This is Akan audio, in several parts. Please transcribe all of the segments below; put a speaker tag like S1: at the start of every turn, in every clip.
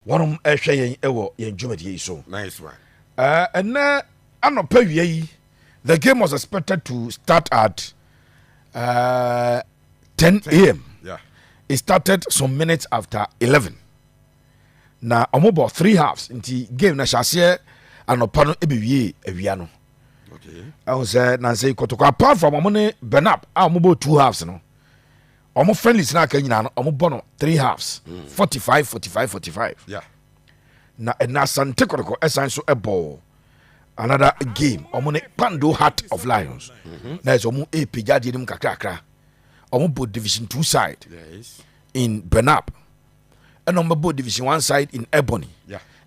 S1: Wɔrehwɛ yɛn wɔ yɛn dwumadie yi so. Nice one.
S2: Ɛnnɛ
S1: anɔpa wia yi, the game was expected to start at uh, 10 a.m. Yeah. It
S2: started
S1: some minutes after 11. Na wɔn bɔ three halves nti game na hyɛ aseɛ anɔpa no ebi wie awia no. Okay.
S2: Ɛho sɛ
S1: nansa yi kɔtɔkɔ apart from wɔn ne Bernab a wɔn bɔ two halves no. Wɔn friendlies na aka nyinaa no wɔn bɔ no three halves mm. forty five forty five forty five. Yeah.
S2: Na
S1: ɛna Asante Kɔtɔkɔ ɛsan so ɛbɔ another game wɔn ne Pando Heart of Lions mm-hmm. na ɛsɛ wɔn ɛpagya deɛ no mu kakrakra wɔn bɔ division two side in
S2: Benab
S1: ɛna wɔn bɛbɔ division one side in ebony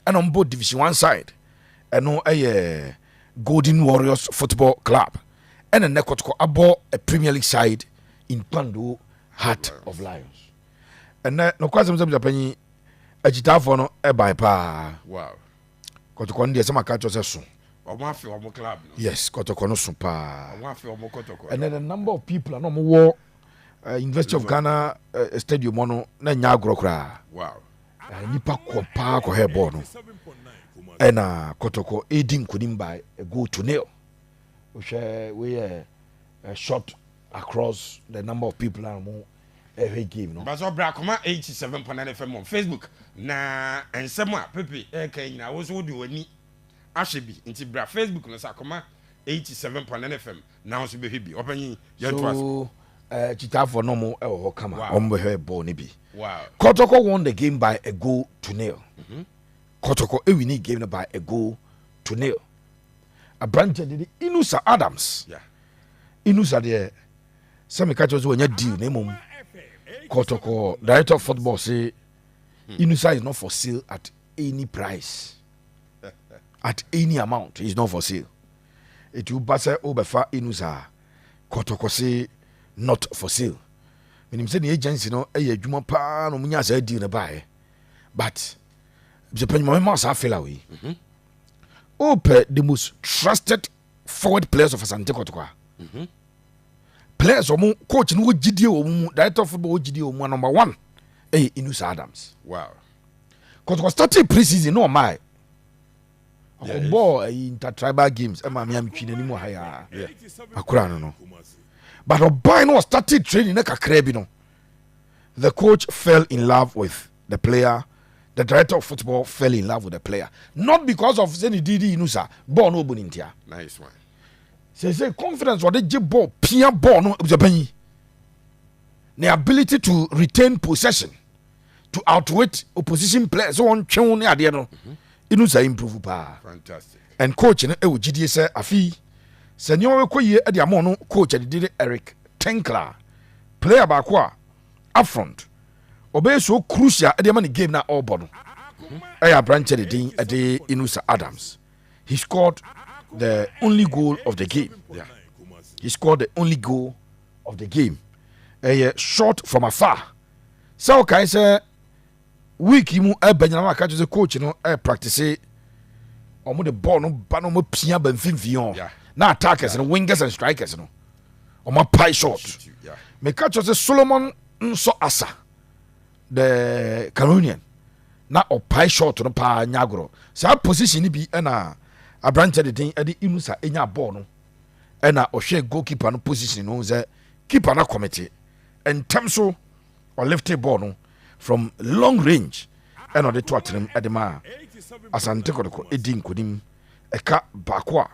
S1: ɛna wɔn bɔ
S2: division
S1: one side ɛno ɛyɛ golden warriors football club ɛna nnɛ kɔtɔkɔ abɔ a premier league side in kpando heart of lions ɛnɛ nokora sɛm sɛ bisa panyin akyitaafoɔ no ɛbae paa
S2: kɔtɔkɔ no deɛ
S1: sɛ maka kyerɛ sɛ so
S2: yes kɔtɔkɔ no so
S1: paa
S2: ɛnɛ the number of people
S1: a na ɔmowɔ eh, university of ghana eh, stadium hɔ no na ɛnyɛ agorɔ koraa eh,
S2: nnipa kɔ
S1: paa kɔhɛ bɔɔl no ɛna kɔtɔkɔ ɛdi nkonim by a goal to nil wohwɛ woyɛ eh, short across the number of people a mo ɛhwɛ game no basɛ ɔbrɛ akoma
S2: 87.9 fm on facebook na nsɛm a pepe ɛka eh, nyina wo so wode w'ani ahwɛ bi nti bra facebook no sɛ akoma 87.9 fm Now so bɛhwɛ bi ɔpanyin yɛn to ase. So ɛɛ
S1: kyitaafoɔ no mo ɛwɔ hɔ kama wɔn bɛhwɛ bɔɔl no bi. Kɔtɔkɔ
S2: won the game
S1: by a goal to nil. Mhm. Kɔtɔkɔ ewi ni game no by a goal to nil. Aberanteɛ de de Inusa Adams.
S2: Inusa deɛ
S1: sɛ meka kyerɛ sɛ wɔnya deal na mmom kɔtɔkɔ director of football se hmm. Inusa is not for sale at any price at any amount is not for sale. Etu ba sɛ wobɛfa Inus a, kɔtɔkɔse not for sale. Menim sɛ ne agency no yɛ adwuma paa na wɔnyaa saa deal no baeɛ. But sɛ panyuma mema saa fela wei. Mhm. Wopɛ the most trusted forward players of Asante Kɔtɔkɔ a. Mhm. Players wɔn coach no wɔ gyidie wɔ wɔn mu, director of football wɔ gyidie wɔ wɔn mu, number one ɛyɛ Inus Adams. Wow.
S2: Kɔtɔkɔ
S1: starting pre-season na ɔmaa
S2: ɔbɔɔ ayi
S1: intertribal games ɛma me a metwi n'anim wɔ ha yi a akora no no but ɔbae no ɔstarted training na kakraa bi no the coach fell in love with the player the director of football fell in love with the player not because of sɛ ne didi no sa bɔɔl no ɔbɔ ne ntia
S2: sɛ sɛ
S1: confidence ɔde gye bɔɔl pia bɔɔl no sɛ bɛyi the ability to retain possession to outwit opposition players sɛ wɔntwe wo ne adeɛ no inu saa improve paa and
S2: coach no ɛwɔ
S1: gyidie sɛ afei sɛ nneɛma bɛkɔ yie de ama ɔno coach adidi ne eric tenkla player baako a upfront ɔbɛyɛ so crucial de ama ne game na ɔrebɔ no ɛyɛ aberanteɛ de din ɛde inusa adams he scored the only goal of the game yeah.
S2: he scored
S1: the only goal of the game ɛyɛ short from afar sɛ wokae sɛ week yi mu ɛbɛ nyina waka kyerɛ sɛ coach no ɛpractice ɔmo de bɔɔl no ba no ɔmo pia ba mfimfini hɔ na attackers
S2: no
S1: wingers and strikers no ɔmo apae short meka kyerɛ
S2: sɛ
S1: solomon nso asa the caronian na ɔpae short no paa nya agorɔ saa position no bi ɛna aberanteɛ de den ɛde inusa ɛnya bɔɔl no ɛna ɔhwɛ goalkeeper no position no sɛ keeper no akɔmete Ntɛm so ɔliftee bɔɔl no from long range ɛna ɔde to atenem ɛde maa Asante Kɔtɔkɔ edi nkonim ɛka baako a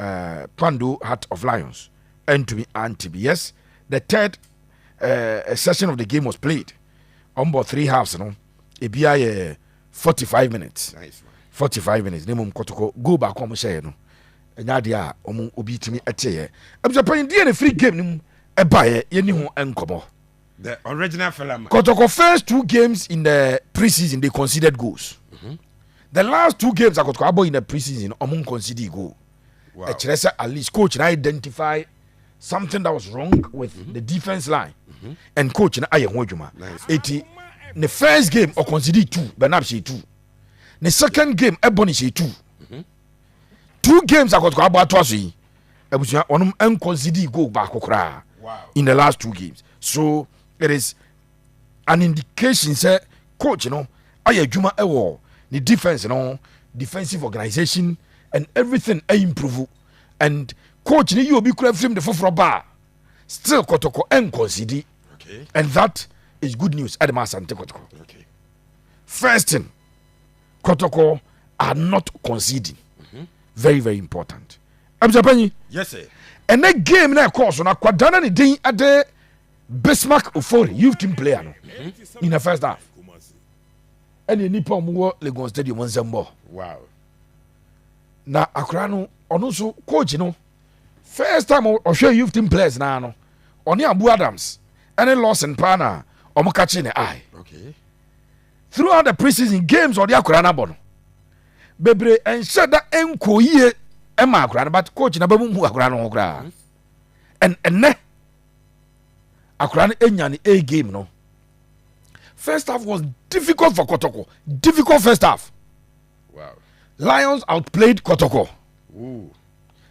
S1: uh, Kpando Heart of Lions ɛntumi ante bi. Yes, the third uh, session of the game was played. Wɔn bɔ three halves no ebi ayɛ forty five minutes. Nice.
S2: 45 minutes ne mmom
S1: kɔtɔkɔ goal baako a wɔhyɛeɛ no Ɛnyɛ adeɛ a wɔn obi tumi teeɛ. Abusuapanyin deɛ na efiri game no mu baeɛ yɛn ni ho nkɔmɔ. The original
S2: Felaman. Kɔtɔkɔ first two
S1: games in the pre-season they conceded goals. Mm -hmm. The last two games akɔtɔkɔ abɔ in the pre-season wɔn conceded goal. Wow. Ɛkyerɛ sɛ
S2: at least coach
S1: na identify something that was wrong with mm -hmm. the defense line mm -hmm. and coach na ayɛ ho adwuma. Nice. Eti ne first game ɔconceded two Bernab hyɛ two. Ne second game ɛbɔ ne hyɛ two. two games akɔtɔkɔ abɔ ato aso yi abusua wɔn nkɔnsidi goal baako koraa in the last two
S2: games
S1: so it is an indication sɛ coach no ayɛ adwuma ɛwɔ ne defense no defensive organization and everything ayi improve and coach no yi obi kura firim de foforɔ ba still kɔtɔkɔ nkɔnsidi and that is good news ɛde ma asante kɔtɔkɔ first thing. kɔtɔkɔ are not conceding mhm. very very important abusuapanyin
S2: ɛnɛ game na
S1: ɛkɔɔ so no akwadaa na ne din ɛde bismark ofori youth team player no mhm. in the first half ɛne nipa ɔmo wɔ legon stadium nsɛm bɔ na akwadaa no ɔno nso coach no first time ɔhwɛ youth team players naa no ɔne abu adams ɛne lawson paa na ɔmo kakye ne eye. Okay.
S2: throughout
S1: the pre-season games ɔde akwadaa no abɔ no bebree ɛnhyɛ da ɛnkɔ yie ɛma akwadaa no but coach na bɛ mu mu akwadaa no ho koraa ɛn ɛnɛ akwadaa no ɛnya ne a game no first half was difficult for Kotoko difficult first half wow.
S2: Lions
S1: outplayed Kotoko Ooh.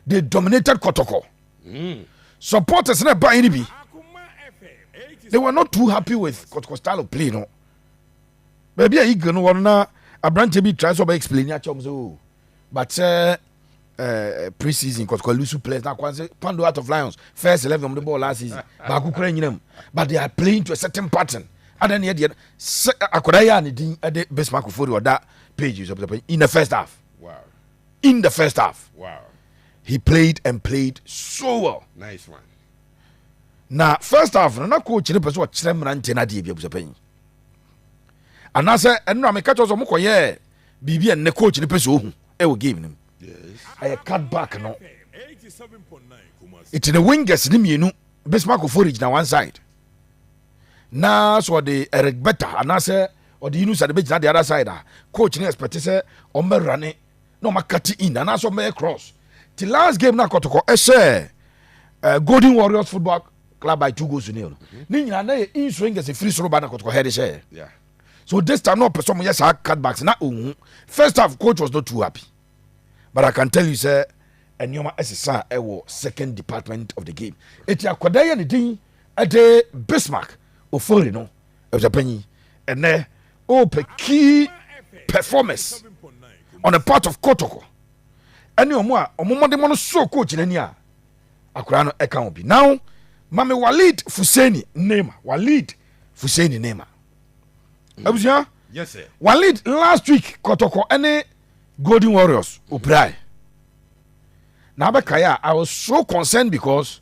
S2: they
S1: dominated Kotoko mm. supporters na ɛba yɛn ni bi they were not too happy with Kotoko style of play no. baabi a eagle no wɔ no na aberanteɛ bi try sɛ ɔbɛ explain akyɛ wɔn sɛ o oh, but sɛ eh, ɛɛ eh, pre season kɔtɔkɔ lusu players na akwan sɛ pando out of lions first eleven wɔn de bɔɔl last season baako kura nyina mu but they are playing to a certain pattern adan ne yɛ deɛ sɛ akwadaa yɛ a ne din ɛde bismarck ofori ɔda page sɛ pɛsɛpɛ in the first half wow.
S2: in the
S1: first half wow.
S2: he played
S1: and played so well nice one
S2: na
S1: first half no na coach no pɛ sɛ ɔkyerɛ mmeranteɛ no adeɛ bi abusapɛ yi anaasɛ ɛno na meka kyerɛ sɛ ɔmokɔyɛɛ biribi a nnɛ coach no pɛ sɛ ɔhu ɛwɔ game no mu ɛyɛ
S2: cut back
S1: no ɛti ne wingers no mmienu bismark ofori gyina one side na sɛ ɔde eric bɛta anaasɛ ɔde yunus ade bɛgyina the other side a coach no expect sɛ ɔmmɛwura ne na ɔma cutting in anaasɛ ɔmɛyɛ cross ti last game na kɔtɔkɔ ɛhyɛ eh, golden warriors football club by two goals to nil mhm. ne nyinaa na yɛ in swingers efiri soro ba na kɔtɔkɔ hɛde hyɛ so
S2: this time na
S1: ɔpɛ sɛ ɔmo yɛ saa cutbacks na ohun first half coach was not too happy but i can tell you sɛ nneɛma ɛsesa ɛwɔ second department of the game eti akɔda yɛ ne din ɛde bismarck ofori no. Abusuapanyin, ɛnɛ wopɛ key performers on the part of Kotoko ɛne ɔmo a ɔmo mmɔdenmɔ no so kɔ gyina ni a akwadaa no ɛka ho bi now mame Walid Fuseni Neema Walid Fuseni Neema mm. abusua yes,
S2: Walid last week
S1: Kotoko ɛne Golden Warriors opirae na abɛkae a I was so concerned because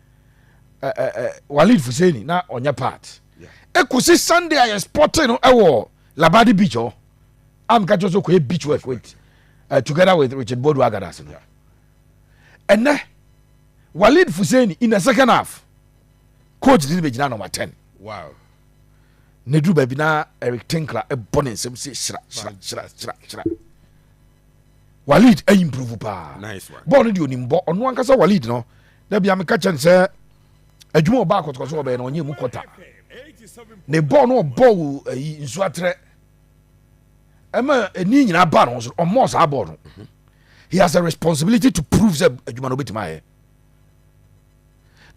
S1: walid fuseni na ɔnyɛ part ɛkɔsi sunday a yɛspɔte no ɛwɔ labadi beach hɔ amka kyerɛ sɛ kɔyɛ beach work with uh, together with richard bodu agadas no ɛnɛ walid fuseni in the second half coach de ne bɛgyina number 10 wow ne duru baabi na eric tinkler ɛbɔ ne nsɛm sɛ hyira hyira hyira hyira hyira Walid ayi mprove paa nice bɔɔl no deɛ onim
S2: bɔ ɔno
S1: ankasa Walid no da bia meka kyɛ no sɛ adwuma ɔbaa kɔtɔkɔtɔ ɔbɛyɛ no ɔnyɛ mu kɔta ne bɔɔl no ɔbɔ wo ayi nsuo atrɛ ɛma ɛni nyinaa baa no ho so ɔmmɔɔ saa bɔɔl no mhm. he has a responsibility to prove sɛ adwuma no wobɛtumi ayɛ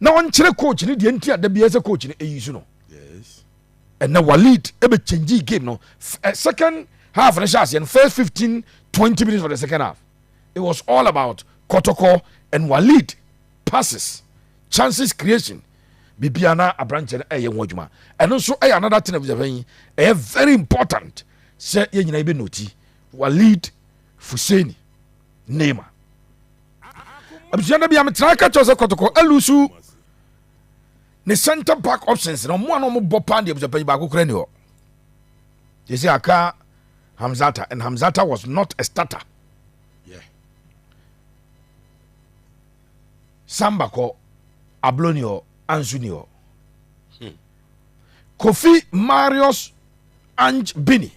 S1: na ɔnkyerɛ coach no deɛ nti a da biaa sɛ coach no ɛyi so no ɛnɛ Walid ɛbɛ change game no eh, second half no hyɛ aseɛ no first fifteen twenty minutes of the second half it was all about kɔtɔkɔ and Walid passes chances creation bibia na aberanteɛ no ɛyɛ ho adwuma ɛno nso ɛyɛ another thing abusafɛ yi ɛyɛ very important sɛ yɛn nyinaa yɛbɛ noti Walid Fuseni Neymar abusua da bi a metra ka kyɛw sɛ kɔtɔkɔ alusu ne center back options no wɔn a na wɔn bɔ paa deɛ abusuapɛnyi baako kura ni hɔ yɛsi aka hamzata and hamzata was not a starter
S2: yeah.
S1: samba kɔ ablo ni hɔ ansu ni hɔ hmm. kofi marius ange bini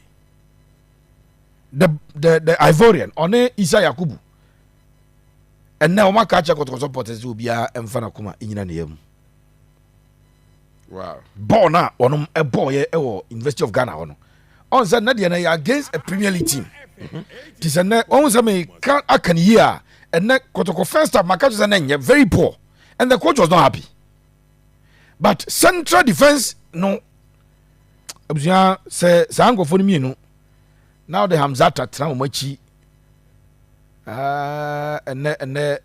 S1: the the the ivorian ɔne isa yakubu ɛnɛ wɔn aka akyɛ kɔtɔkɔtɔ pɔtɛ sɛ obiara mfa n'akoma nyina ne yam
S2: bɔɔl no a wɔnom
S1: bɔɔyɛ wɔ university of ghana hɔ no ɔn sɛ nnɛ deɛ no yɛ against a premier league team nti sɛ nnɛ ɔhu sɛ meka aka no yie a ɛnɛ kɔtɔkɔ first half maka kyerɛ sɛ nnɛ nyɛ very poor and the coach was not happy but central defence no abusua sɛ saa nkurɔfoɔ no mmienu na ɔde hamzata tena wɔn akyi Aah ɛnɛ ɛnɛ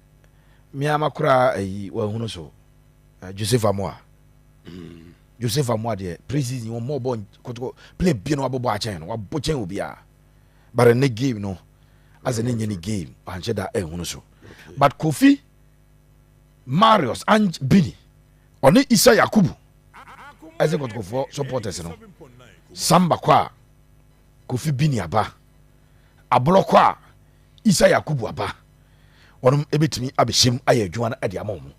S1: me ara makora ayi wahunu so uh, Joseph Amoa mm. Joseph Amoa deɛ praises ni wɔn mɔ ɔbɔ kɔtɔkɔ play bie no wabɔbɔ akyɛn no wabɔ kyɛn obiara but ɛnɛ game no asɛ ne nyɛ ne game anhyɛ da ɛhunu so but Kofi Marius and Bini ɔne Isa Yakubu ɛsɛ kɔtɔkɔfoɔ supporters no samba kɔ a Kofi Bini aba. aborɔkɔ a Isa Yakubu aba, wɔnom ɛbɛtumi abɛhyɛm ayɛ adwuma no de ama wɔn.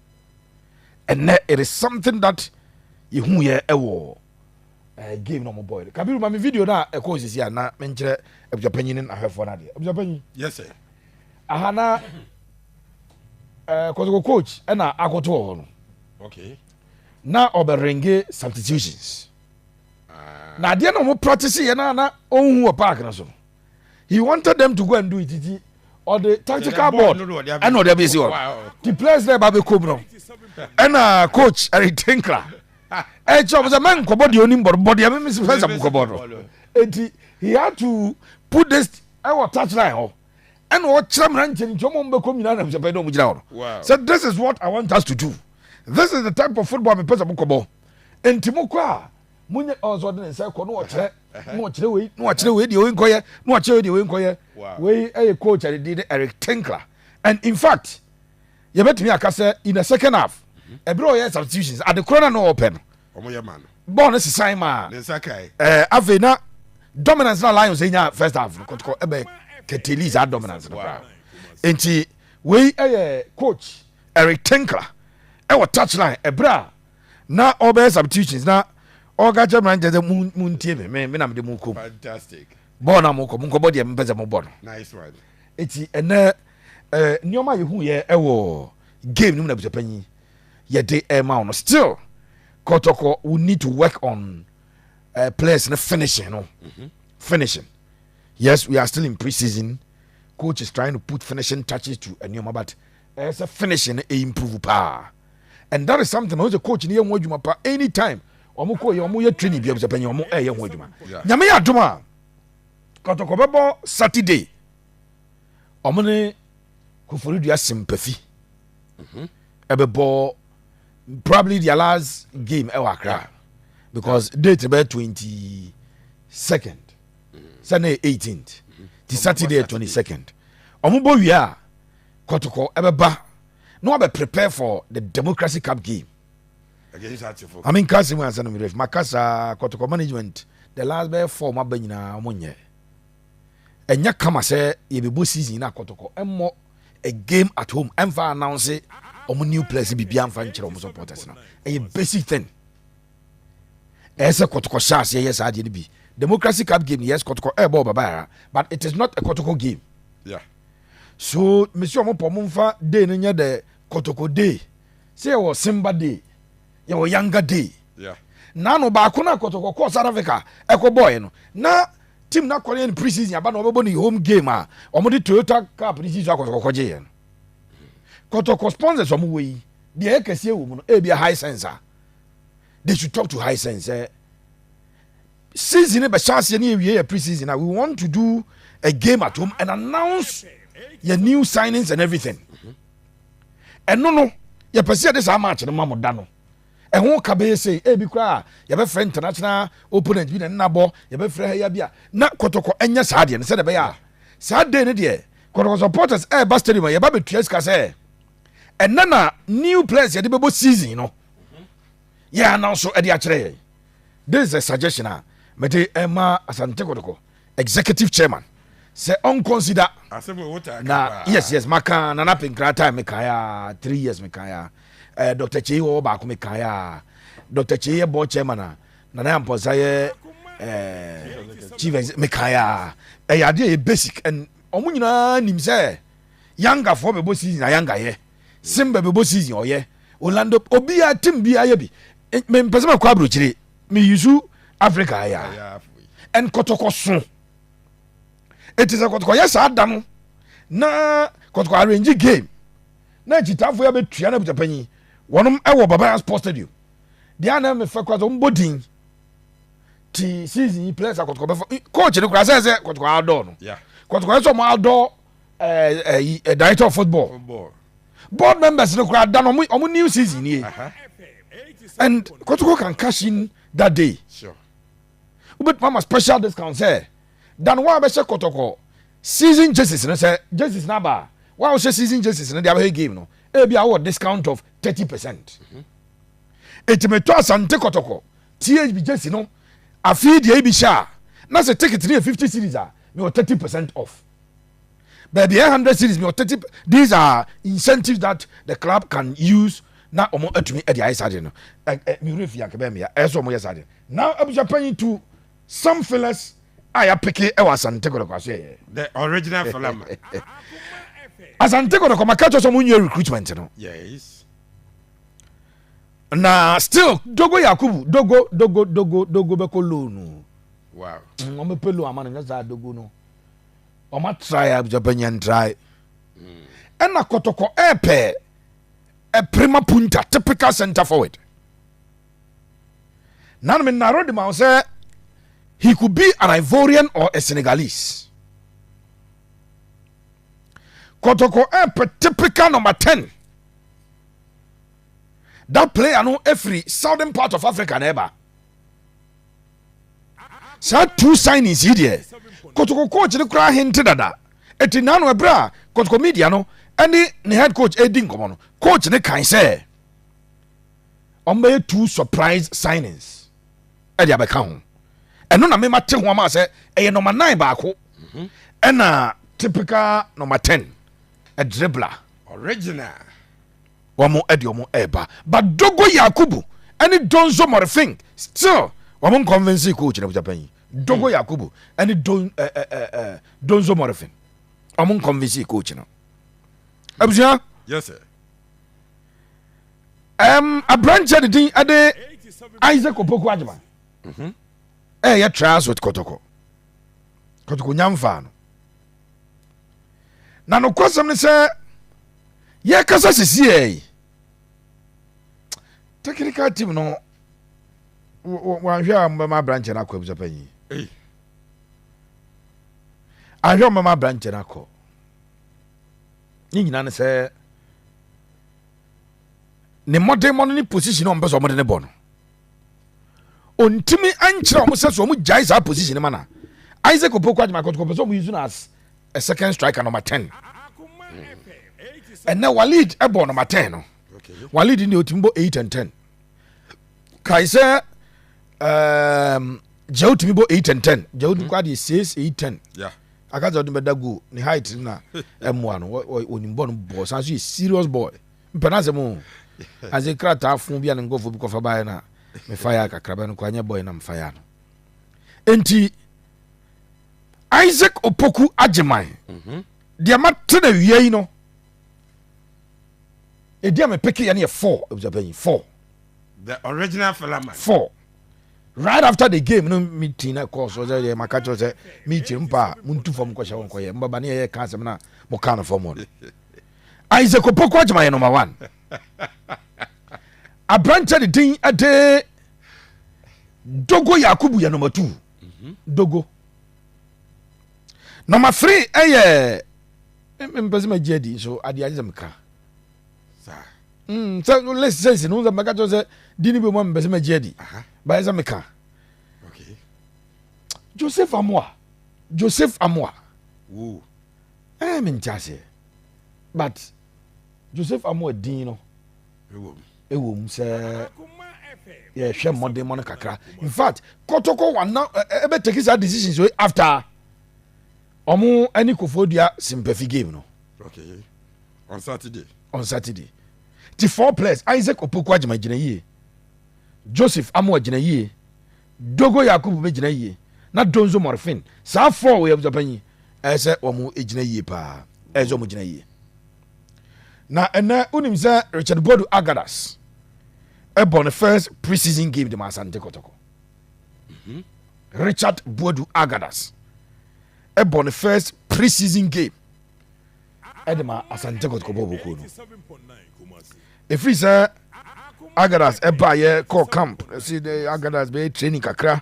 S1: Ɛnnɛ, it is something that yɛhuuɛ ɛwɔ eh, game na wɔn bɔɔl. Kabiru, ma me video na ɛkɔɔ sisi a na menkyerɛ abusuapanyin ne n'ahwɛfoɔ no adeɛ. Abusuapanyin. Yes, sir.
S2: Aha na
S1: eh, kɔtɔkɔ coach ɛna akɔto wɔ hɔ no. Okay.
S2: Na
S1: ɔbɛrenge substitutions. na adeɛ na wɔn practice yɛ na na ɔnhu wɔ park no so no he wanted them to go and do it ti ɔde tactical board ɛna ɔde abɛsi hɔ ti players na ɛba bɛkɔ mu no ɛna coach ɛre tinkra ɛkyɛ ɔmo sɛ mɛ nkɔbɔ deɛ onim bɔdɔ bɔdeɛ mɛ misi fɛn sɛ mo kɔbɔ no eti he had to put this ɛwɔ touch line hɔ ɛna ɔkyerɛ mìíràn nkyɛn nkyɛn ɔmo bɛkɔ mu nyinaa na ɛsɛ pɛ ɛna ɔmo gyina hɔ no sɛ this is what i want us to do this is the type of football mi pɛ sɛ mo kɔbɔ. Enti mokɔ a, monyɛ ɔn sɛ ɔde ne nsa kɔ na ɔkyerɛ na ɔkyerɛ wei na ɔkyerɛ wei deɛ wei nkɔyɛ na ɔkyerɛ wei deɛ wei nkɔyɛ. Wei ɛyɛ coach a ne din ne Eric Tinkler. And in fact, yɛbɛtumi aka sɛ in the second half, ɛberɛ a ɔyɛ substitutions, adekorɔ no a na ɔpɛ no, bɔɔl
S2: no sesae maa afei na
S1: dominance na Lions nya first half no kɔtɔkɔ ɛbɛ kɛtɛli saa dominance no koraa. Enti wei ɛyɛ coach Eric Tinkler ɛwɔ touchline ɛberɛ a na ɔbɛyɛ substitutions na ɔka kyerɛ mmeranteɛ sɛ montie me me na mede mo kɔ mu bɔɔl
S2: no a mokɔ
S1: monkɔbɔ deɛ mopɛ sɛ mobɔ no
S2: ɛti ɛnɛ
S1: eh, nneɛma a yɛhuiɛ ɛwɔ game no mu na abusuapanyin yɛde ɛma wo no still kɔtɔkɔ we need to work on uh, players no finishing no mm -hmm. finishing yes we are still in pre-season coach is trying to put finishing touches to nneɛma but ɛsɛ finishing no ɛimprove paa and that is something ɔno sɛ coach no yɛ ho adwuma pa anytime wɔn kɔ yɛ wɔn yɛ training bi abusapɛ nyɛ wɔn ɛyɛ ho adwuma nyame yɛ adum a kɔtɔkɔ bɛbɔ saturday wɔn ne koforidua simpafi mhm. ɛbɛbɔ probably their last game ɛwɔ akra because date bɛ twenty second sunday eighteenth ti saturday twenty second wɔn bɔ wia kɔtɔkɔ ɛbɛba. na wabɛ prepare for the democracy cup game maame
S2: nka asɛm ansa no mmerɛ
S1: fi maka saa kɔtɔkɔ management the last bɛyɛ four mu aba nyinaa ɔmo nyɛ ɛnyɛ kama sɛ yɛbɛbɔ season na akɔtɔkɔ ɛmmɔ a game at home ɛmfa announce ɔmo new players biribi amfa nkyerɛ ɔmo supporters no ɛyɛ basic thing ɛyɛ sɛ kɔtɔkɔ hyɛ aseɛ yɛ saa adeɛ no bi democracy cup game yes kɔtɔkɔ ɛbɔ ɔbabaara but it is not a kɔtɔkɔ game yeah.
S2: So
S1: mesi ɔmo pɔ ɔmo nfa day no nyɛ dɛ kotoko day sɛ yɛwɔ simba day yɛwɔ yanga day naano
S2: baako
S1: na kotoko kɔɔ south africa ɛkɔ bɔɔɛ no na team na kɔreyɛ no pre season aba na ɔbɛbɔ ne home game a ɔmo de toyota cup ne si so akɔtoko kɔgye yɛ no kotoko sponsors ɔmo wɔ yi deɛ ɛyɛ kɛseɛ wɔ mu no ebi a high sense a they should talk to high sense eh? Season no bɛhyɛ aseɛ ne yɛ wie yɛ pre season a we want to do a game at home and announce yɛ new signings and everything. Ɛno no yɛpɛ sɛ yɛde saa match no ma mo da no ɛho ka bɛyɛ sei ebi koraa yɛbɛfrɛ international opponent bi na ne nabɔ yɛbɛfrɛ ha ya bi a na kɔtɔkɔ ɛnyɛ saa deɛ no sɛ de bɛyɛ a saa day no deɛ kɔtɔkɔ supporters ɛɛba stadium a yɛba bɛtua sika sɛ ɛnɛ na new players yɛde bɛbɔ season no yɛn anan so de akyerɛ yɛn this is a suggestion a mede ɛma asante kɔtɔkɔ executive chairman sɛ ɔn consider na yes yes maka nana penkra time meka ya three years meka ya eh, dr kyei wɔ baako meka ya dr kyei yɛ board chairman a nana yampɔnsa yɛ eh, chief executive meka ya ɛyɛ adeɛ yɛ basic and ɔmo nyinaa nim sɛ yangafoɔ bɛbɔ season a yangayɛ Simba bɛbɔ season ɔyɛ Orlando obia team bia yɛ bi me mpɛ sɛ mɛkɔ abrokyire me yusu Africa ya and kɔtɔkɔ so eti sɛ kɔtɔkɔ yɛ saa da no na kɔtɔkɔ arrange game na akyitaafo yɛ bɛtua na abutapanyin wɔnom ɛwɔ Babaya Sports Stadium deɛ anam mefɛ kora sɛ ɔmbɔ din ti season yi players akɔtɔkɔ bɛfa coach no kora sɛ sɛ kɔtɔkɔ adɔ no kɔtɔkɔ yɛ sɛ ɔmo adɔ ɛyi ɛ director of football board members no koraa da no ɔmo new season nie and kotoko can cash in that day wobɛtumi ama special discount sɛ dan wa bɛhyɛ kɔtɔkɔ season jerseys no sɛ jerseys no aba wa wohyɛ season jerseys no de abɛhɛ game no ebi awɔ discount of thirty percent eti metɔ asante kɔtɔkɔ thb jersey no afei deɛ ebi hyɛ a na sɛ ticket no yɛ fifty series a mewɔ thirty percent off. baabi a 100 series mi ɔtete these are incentives that the club can use na wɔn atumi de ayɛ saa de no mi wura fi yankɛ bɛyɛ mi ya ɛyɛ sɛ wɔn yɛ saa de na abusua panyin tu some fillers a yɛapeke wɔ asante kɔdɔkɔ aso yɛyɛ the original filler ma asante kɔdɔkɔ ma kɛtɔ sɛ wɔn nyɛ recruitment no yes na still dogo yakubu dogo dogo dogo dogo bɛkɔ loan no wow wɔn bɛpɛ loan ama no nyɛ saa dogo no. Wɔn atrae abusuapɛ nyɛ ntrae. Ɛna kɔtɔkɔ ɛɛpɛ ɛpirima punta typical center forward. Nanu mi naro de ma ho sɛ he could be an Ivorian or a Senegalese. Kɔtɔkɔ ɛɛpɛ typical number ten. That player no efiri southern part of Africa na ɛba. saa two signings yi deɛ kotoko coach no koraa hente dada ɛti naa no ɛberɛ a kotoko media no ɛne ne head coach ɛdi nkɔmɔ no coach no kan sɛ ɔmbɛyɛ two surprise signings ɛde abɛka ho ɛno na mema te ho ama sɛ ɛyɛ nɔma 9 baako ɛna typical nɔma 10 ɛdrebla original wɔn de wɔn reba but Dogo Yakubu ɛne Donzo Morphing still wɔn nkɔnvɛnsi kɔ gyinagyina pɛn yi Dogo hmm. Yakubu ɛne Don ɛɛ eh, ɛɛ eh, eh, Donzo Morphing wɔn nkɔnvɛnsi kɔ gyina abusua. Yes sir. Um, aberanteɛ de din ɛde Isaac Opoku Adjuma ɛyɛ mhm. trials with Kotoko Kotoko Nyamfa no. na nokwasɛm ne sɛ yɛkasa sisiɛ technical team no wanhwɛ a mbɛma abrankyɛ no akɔ abusa panyin ahwɛ mbɛma abrankyɛ no akɔ ne nyinaa ne sɛ ne mmɔdenmɔ no ne position a ɔmpɛ sɛ ɔmode ne bɔ no ɔntumi nkyerɛ wɔn sɛ so wɔn gyae saa position no ma na isaac opoku adwuma kɔtɔkɔ pɛ sɛ wɔn use no as a second striker number ten ɛnɛ walid ɛbɔ number ten no walid deɛ ɔtumi bɔ eight and ten kae sɛ um, jɛw tumi bɔ eight and ten jɛw tumi kɔ adeɛ six eight ten akasɛ ɔde bɛda goal ne height na ɛmoa no ɔnim bɔ no bɔɔ san so yɛ serious boy Mepɛ n'asɛm o. As in krataa fon bi a ne nkurɔfoɔ bi kɔfa baeɛ na me faeɛ kakra bɛ no koraa nyɛ bɔe na me faeɛ no. Enti Isaac Opoku Agyeman mhm. deɛ mate na awia yi no ɛdi a mepeke yɛ no yɛ four ɛbusa panyin four the original filaman four right after the game no meeting na ɛkɔɔ so sɛ yɛ maka kyerɛ sɛ meeting mpa a montu fam nkɔhyɛ wo nkɔyɛ mbaba ne yɛyɛ ka asɛm no a moka no fam no Isaac Opoku Agyama yɛ number one aberanteɛ de din de Dogo Yakubu yɛ number two Dogo number three ɛyɛ mpɛ sɛ magye adi nso adeɛ agye sɛ meka sɛ list sɛsi no sɛ mɛka kyerɛ sɛ di no bi mu a mepɛ sɛ magye adi bayɛ sɛ meka joseph amoa joseph amoa Ɛɛ me nte aseɛ but Joseph Amoah din no ɛwɔ mu sɛ yɛhwɛ mmɔden mɔ no kakra in fact kɔtɔkɔ wana ɛbɛ take saa decision so after ɔmo ɛne kofoɔ dua simpɛfi game no okay. on Saturday on Saturday ti four players Isaac Opoku agyima gyina yie Joseph Amoah gyina yie Dogo Yakubu bɛ gyina yie na Donzo Morfin saa four wei abusua panyin ɛyɛ sɛ wɔn gyina yie paa ɛyɛ sɛ wɔn gyina yie na ɛnɛ wonim sɛ Richard Bodu Agadas ɛbɔ ne first pre-season game de ma Asante Kɔtɔkɔ mhm. Richard Bodu Agadas ɛbɔ ne first pre-season game ɛde ma Asante Kɔtɔkɔ bɔɔl kuo no. Ɛfiri sɛ Agadas ɛbaa yɛ kɔɔ camp ɛsi Agadas bɛyɛ training kakra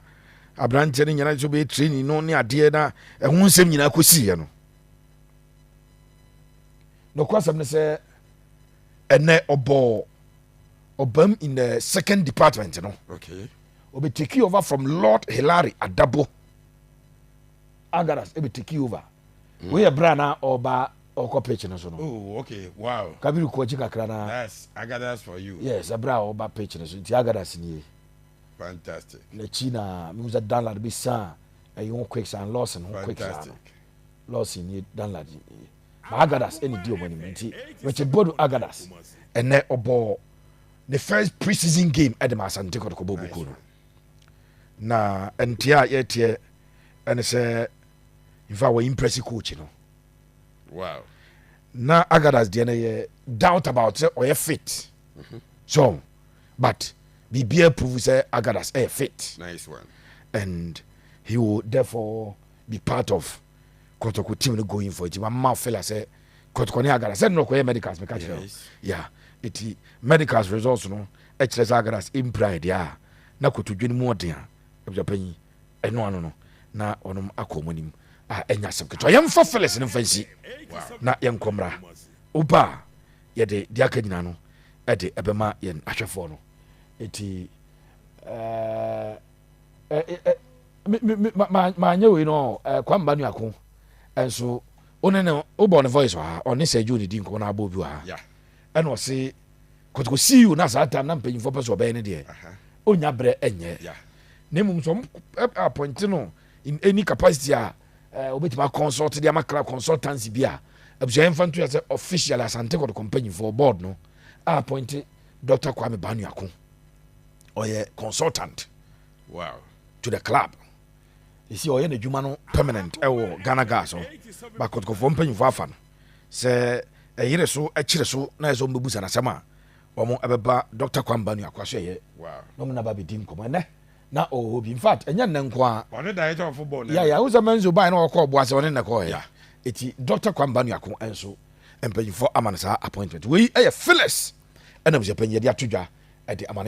S1: aberanteɛ no nyinaa nso bɛyɛ training no ne adeɛ na ɛho nsɛm nyinaa kɔsiiɛ no nokwasɛm no sɛ ɛnɛ ɔbɔɔ ɔbam in the second department no okay.
S2: ɔbɛtake over
S1: from lord hilary adabo Algaras ɛbɛ tiki over mm. wei yɛ bra na ɔba ɔkɔ pitch no so no oh, okay. wow.
S2: kabiri kɔ akyi kakra na
S1: That's Agadas for
S2: you. yes ɛbra a ɔba pitch
S1: no so nti Agadas nie fantastic
S2: n'akyi na
S1: mehu sɛ danlad bi san ɛyi ho quick san lawson ho quick san no
S2: lawson nie
S1: danlad nie ma agadas ɛne di ɔmo anim nti richard bodu agadas ɛnɛ ɔbɔ ne first pre-season game ɛde ma asante kɔtɔkɔ bɔ buku no na ɛnteɛ a yɛteɛ ɛne sɛ infact wɔ impress coach no wow.
S2: na
S1: agadas deɛ no yɛ doubt about sɛ ɔyɛ fit mm -hmm. so but biribiaa prove sɛ agadas ɛyɛ fit nice one.
S2: and
S1: he will therefore be part of kɔtɔkɔ team no going for nti mama fela sɛ kɔtɔkɔ ne agadas sɛ nnɔkɔyɛ medicals meka kyerɛ yes. yeah ɛti medicals results no ɛkyerɛ sɛ agadas mpira ɛdeɛ a na kotodwe no mu ɔden a ɛbɛpanyi Ɛno ano no, na wɔnom akɔ wɔn anim a ɛnyɛ asɛm ketewa. Yɛmfa Felix no mfa nsi na yɛnkɔ mmra. Woba a, yɛde deɛ aka nyinaa no ɛde ɛbɛma yɛn ahwɛfoɔ no. Eti maanyɛ wei no kwamba nuako nso wone ne wobɔ ne voice wɔ ha ɔne sɛ dwo ne di nkɔmɔ na abɔ obi wɔ ha Ɛna ɔse kɔtɔkɔ see you na saa time na mpanyinfoɔ pɛ sɛ ɔbɛyɛ ne deɛ ɔnya berɛ ɛnyɛ na mmom
S2: sɛ ɔmo
S1: appoint no in any capacity a ɔbɛtumi eh, akɔnsɔlte de ama kra consultancy bi a abusua yɛn fa nto yɛ sɛ official asante kɔtɔkɔ mpanyinfoɔ board no a appoint Dr. Kwame Banuako ɔyɛ consultant wow.
S2: to the club
S1: esi ɔyɛ n'adwuma no permanent wɔ Ghana Gas hɔ, but kɔtɔkɔfoɔ mpanyinfoɔ afa no sɛ ɛyere so kyere so na ɛsɛ ɔmo busa n'asɛm a ɔmo ɛbɛba Dɔkta Kwamba Nuakwa so ɛyɛ na ɔmo na ba bɛdi
S2: nkɔmɔ
S1: ɛnɛ na ɔwɔ hɔ bi in fact ɛnyɛ nnɛ nko a ɔne director of football
S2: yɛ yɛ ahosɛ mɛnso baa na
S1: ɔkɔ ɔboa sɛ ɔne nnɛ kɔɔ yɛ eti Dɔkta Kwamba Nuako ɛnso mpanyinfoɔ ama no saa appointment wei ɛyɛ Phyllis ɛna busuapɛnyin yɛde ato dwa ɛde ama no.